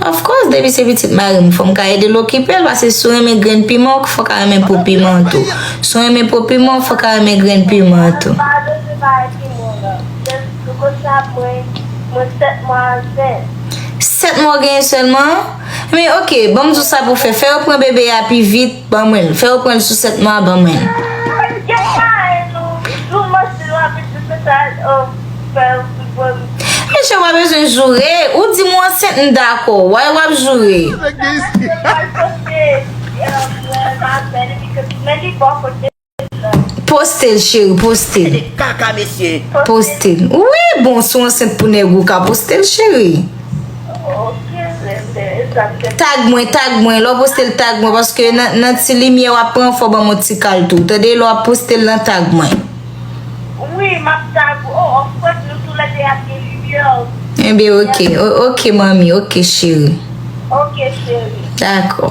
Of course depi se pitit marim fòm ka edel okipel pase si w renmen grenn piman ou fòk a renmen po piman an tou si w renmen po piman ou fòk a renmen grenn piman an tou. Sèt mwa ou genyen sèlman? Men ok banm di w sa pou w fè, fè yo pran bebe a pi vit. Ban mwen l. Fè yo pran l sou sèt mwa ban mwen l. Mesye pa bezwen joure. Ou di m ou ansent m dakò. Why w ap joure? Mwen pa sòsye. Postel cheri postel. Ede kaka mesye. Postel. Wi bon sou ansent pou neg ou ka postel cheri. Ok bebe e sa m te. Tag mwen tag mwen lò postel tag mwen paske nan ti limye wap pran fò ban mwen ti kal tou tande lò ap postel nan tag mwen. Wi map tag ou oh of course nou tou le 2 ap gen limye oh. Ebyen ok ok manmi ok cheri. Ok cheri. Dakò.